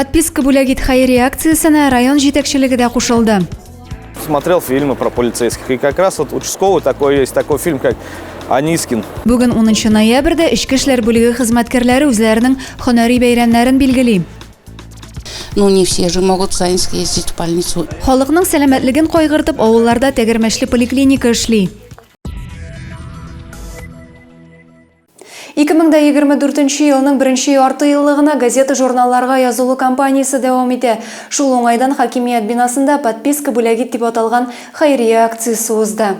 Подписка бүләк ит хәйрия акциясенә район җитәкчелеге дә кушылды. Смотрел фильмы про полицейских. И как раз вот участковый такой есть, такой фильм, как Анискин. Бүген 10 ноябрьдә Эчке эшләр бүлеге хезмәткәрләре үзләренең һөнәри бәйрәмнәрен билгели. Ну, не все же могут сами съездить в больницу. Халыкның сәламәтлеген кайгыртып, авылларда тәгәрмәчле поликлиника эшли. 2024 елның беренче яртыеллыгына газета-журналларга язылу кампаниясе дәвам итә. Шул уңайдан хакимият бинасында Подписка бүләгит дип аталган хәйрия акциясе узды.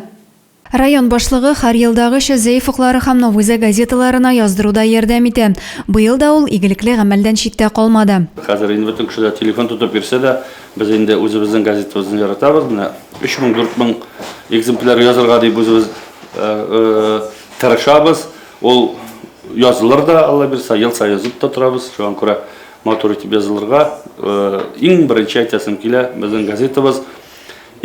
Район башлыгы һәр елдагыча Зәиф уклары һәм Новузә газеталарына яздыруда ярдәм итә. Быел да ул игелекле гамәлдән читтә калмады. Хәзер инде бөтен кеше дә телефон тотып йөрсә дә, без инде үзебезнең газетабызны яратабыз. Менә өч мең, дүрт мең экземпляр язырга дип үзебез Тырышабыз, ул язылыр да, Алла бирса, ел саен язып та торабыз. Шуңа күрә матур итеп язылырга. Э, иң беренче әйтәсем килә, безнең газетабыз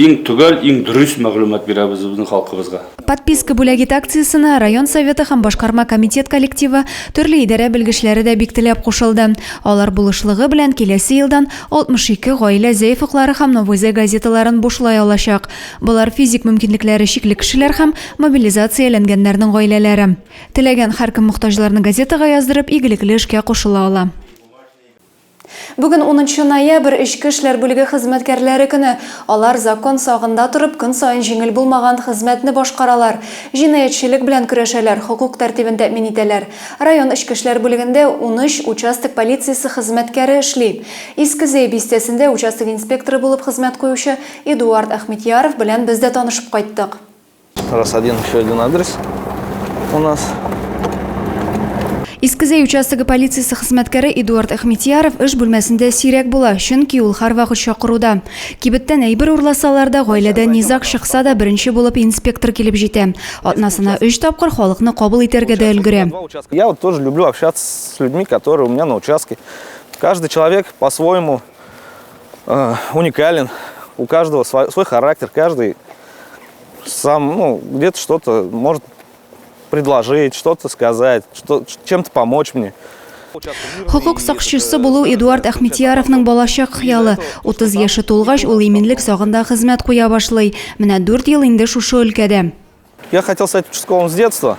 иң төгәл, иң дөрес мәгълүмат бирәбез безнең халкыбызга. Подписка бүләгит акциясенә район советы һәм башкарма комитет коллективы, төрле идарә белгечләре дә бик теләп кушылды. Алар булышлыгы белән киләсе елдан 62 гаилә Зәйф уклары һәм Новый Зәй газеталарын бушлай алачак. Болар физик мөмкинлекләре чикле кешеләр һәм Мобилизацияләнгәннәрнең гаиләләре. Теләгән һәркем мохтаҗларны газетага яздырып, игелекле эшкә кушыла ала. Бүген унынчы ноябрь, эчке эшләр бүлеге хезмәткәрләре көне. Алар закон сагында торып, көн саен җиңел булмаган хезмәтне башкаралар. Җинаятьчелек белән көрәшәләр, хокук тәртибен тәэмин итәләр. Район эчке эшләр бүлегендә унөч участок полициясе хезмәткәре эшли. Иске Зәй бистәсендә участок инспекторы булып хезмәт куючы Эдуард Әхмитьяров белән без дә танышып кайттык. Раз один, еще один адрес у нас. Искезәй участогы полициясе хезмәткәре Эдуард Әхмитьяров эш бүлмәсендә сирәк була, чөнки ул һәрвакыт чакыруда. Кибеттән әйбер урласалар да, гаиләдән низаг чыкса да, беренче булып инспектор килеп җитә. Атнасына өч тапкыр халыкны кабул итәргә дә өлгерә. Я вот тоже люблю общаться с людьми, которые у меня на участке. Каждый человек по-своему э, уникален, у каждого свой, свой характер, каждый сам, ну, где-то что-то может предложить, что-то сказать, что, чем-то помочь мне. Хокук сакчысы булу Эдуард Ахметьяровның балачак хыялы. 30 яше тулгач, ул иминлек сагында хезмәт куя башлый. Менә 4 ел инде шушы өлкәдә. Я хотел стать участковым с детства.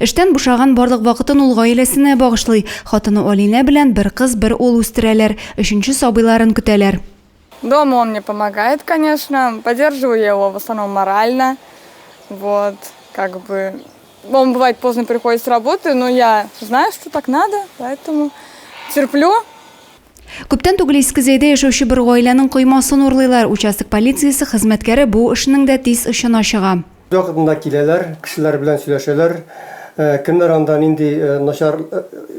Эштән бушаган барлык вакытын ул гаиләсенә багышлый. Хатыны Алинә белән бер кыз, бер ул үстерәләр, өченче сабыйларын көтәләр. Дома он мне помогает, конечно, поддерживаю я его в основном морально, вот, как бы, он бывает поздно приходит с работы, но я знаю, что так надо, поэтому терплю. Күптән түгел Иске Зәйдә яшәүче бер гаиләнең коймасын урлыйлар. Участок полициясе хезмәткәре бу эшнең дә тиз очына чыга. Бервакытында киләләр, кешеләр белән сөйләшәләр. Кемнәр анда, нинди начар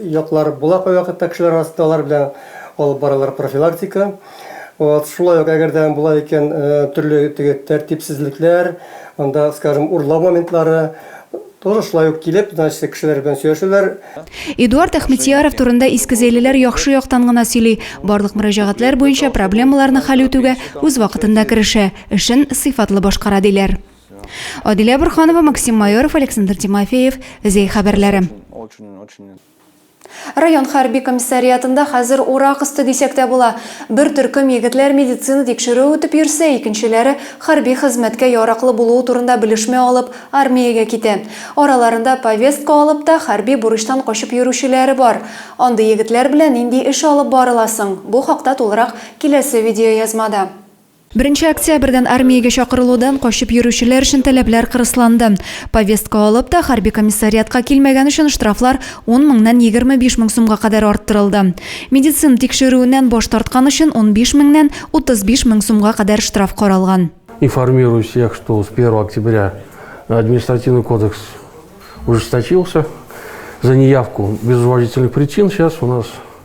яклар була кайвакытта кешеләр арасында, алар белән алып баралар профилактика. Вот, шулай ук, әгәр дә була икән, төрле теге тәртипсезлекләр, анда, скажем, урлау моментлары, тоже шулай ук килеп, значит, кешеләр белән сөйләшәләр. Эдуард Әхмедьяров турында искезәйлеләр яхшы яктан гына сөйли, барлык мөрәҗәгатьләр буенча проблемаларны хәл үтүгә үз вакытында керешә. эшен сыйфатлы башкара, диләр. Адилә Борханова, Максим Майоров, Александр Тимофеев, Зәй хәбәрләре. Район хәрби комиссариатында хәзер урак өсте дисәк тә була. Бер төркем егетләр медицина тикшерүе үтеп йөрсә, икенчеләре, хәрби хезмәткә яраклы булуы турында белешмә алып, армиягә китә. Араларында повестка алып та, хәрби бурычтан качып йөрүчеләре бар. Андый егетләр белән нинди эш алып барыла соң? Бу хакта тулырак киләсе видеоязмада. Беренче октябрьдән армиягә чакырылудан качып йөрүчеләр өчен таләпләр кырысланды. Повестка алып та, хәрби комиссариатка килмәгән өчен штрафлар ун меңнән егерме биш мең сумга кадәр арттырылды. Медицина тикшерүеннән баш тарткан өчен унбиш меңнән утыз биш мең сумга кадәр штраф каралган. Информирую всех, что с первого октября административный кодекс ужесточился за неявку без уважительных причин. Сейчас у нас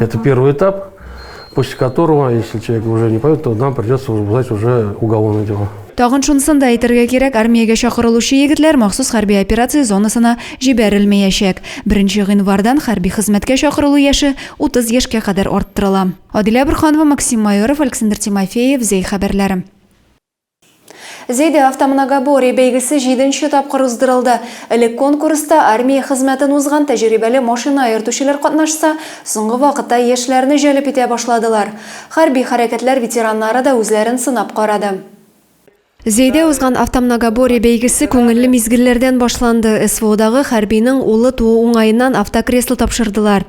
Это первый этап, после которого, если человек уже не пойдет, то нам придется возбуждать уже уголовное дело. Тагын шунысын да әйтергә кирәк, армиягә чакырылучы егетләр махсус хәрби операция зонасына җибәрелмәячәк. Беренче гыйнвардан хәрби хезмәткә чакырылу яше 30 яшькә кадәр арттырыла. Адилә Бурханова, Максим Майоров, Александр Тимофеев, Зәй хәбәрләре. Зәйдә автомногоборье бәйгесе җиденче тапкыр уздырылды. Элек конкурста армия хезмәтен узган тәҗрибәле машина йөртүчеләр катнашса, соңгы вакытта яшьләрне җәлеп итә башладылар. Хәрби хәрәкәтләр ветераннары да үзләрен сынап карады. Зәйдә узган автомногоборье бәйгесе күңелле мизгелләрдән башланды. СВОдагы хәрбинең улы туу уңаеннан автокресло тапшырдылар.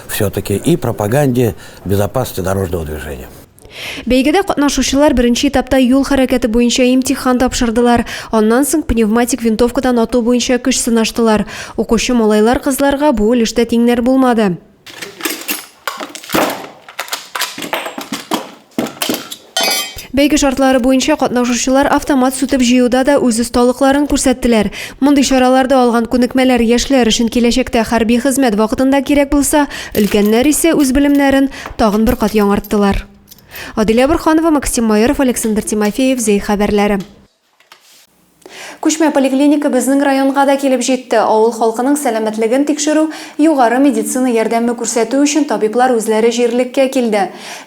Все-таки и пропаганде безопасности дорожного движения. Бәйгедә катнашучылар беренче этапта юл хәрәкәте буенча имтихан тапшырдылар. Аннан соң пневматик винтовкадан ату буенча көч сынаштылар. Укучы малайлар-кызларга бу өлештә тиңнәр булмады. Бәйге шартлары буенча катнашучылар автомат сүтеп җыюда да үз осталыкларын күрсәттеләр. Мондый чараларда алган күнекмәләр яшьләр өчен киләчәктә хәрби хезмәт вакытында кирәк булса, өлкәннәр исә үз белемнәрен тагын бер кат яңарттылар. Адилә Борханова, Максим Майоров, Александр Тимофеев, Зәй хәбәрләре. Күчмә поликлиника безнең районга да килеп җитте. Авыл халкының сәламәтлеген тикшерү, югары медицина ярдәме күрсәтү өчен табиблар үзләре җирлеккә килде.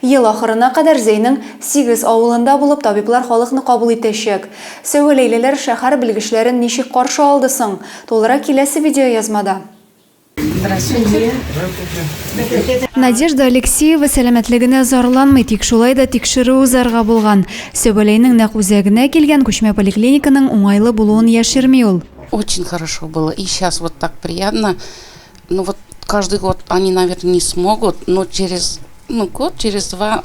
Ел ахырына кадәр Зәйнең сигез авылында булып табиблар халыкны кабул итәчәк. Сәвәләйлеләр шәһәр белгечләрен ничек каршы алды соң? Тулырак киләсе видеоязмада. Надежда Алексеева сәламәтлегенә зарланмый, тик шулай да тикшерү узарга булган. Сөбәләйнең нәкъ үзәгенә килгән күчмә поликлиниканың уңайлы булуын яшерми ул. Очень хорошо было и сейчас вот так приятно. Ну вот каждый год они наверное не смогут, но через ну год через два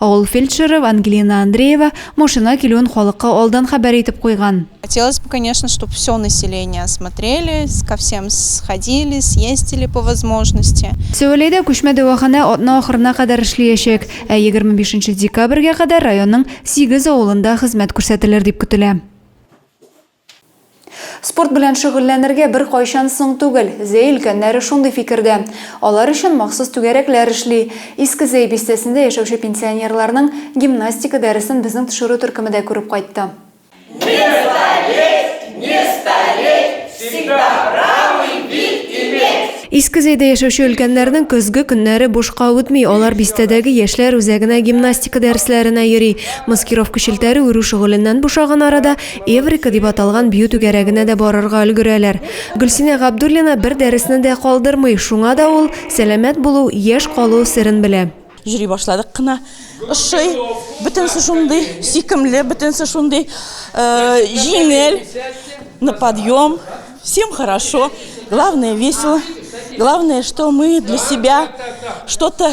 Авыл фельдшеры Ангелина Андреева машина килүен халыкка алдан хәбәр итеп куйган. Хотелось бы, конечно, чтоб всё население осмотрели, ко всем сходили, съездили по возможности. Сәвәләйдә күчмә дәваханә атна ахырына кадәр эшлиячәк, ә егерме бишенче декабрьгә кадәр районның сигез авылында хезмәт күрсәтелер дип көтелә. Спорт белән шөгыльләнергә беркайчан соң түгел. Зәй өлкәннәре шундый фикердә. Алар өчен махсус түгәрәкләр эшли. Иске Зәй бистәсендә яшәүче пенсионерларның гимнастика дәресен безнең төшерү төркеме дә күреп кайтты. Не залезть, не стареть, всегда правый бит иметь! Иске Зәйдә яшәүче өлкәннәрнең көзге көннәре бушка үтми, алар бистәдәге яшьләр үзәгенә гимнастика дәресләренә йөри. Маскировка челтәре үрү шөгыленнән бушаган арада, Эврика дип аталган бию түгәрәгенә дә барырга өлгерәләр. Гөлсинә Габдуллина бер дәресне дә калдырмый, шуңа да ул сәламәт булу, яшь калу серен белә. Йөри башладык кына. Ошый, бөтенесе шундый сөйкемле, бөтенесе шундый җиңел, на подъем, всем хорошо, главное весело, главное, что мы для себя что-то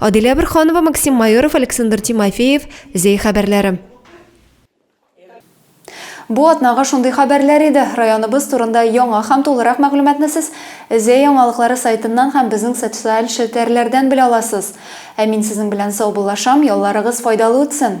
Адилә Бөрханова, Максим Майоров, Александр Тимофеев, Зәй хәбәрләре. Бу атнага шундый хәбәрләр иде. Районыбыз турында яңа һәм тулырак мәгълүматны сез Зәй яңалыклары сайтыннан һәм безнең социаль челтәрләрдән белә аласыз. Ә мин сезнең белән саубуллашам, ялларыгыз файдалы үтсен!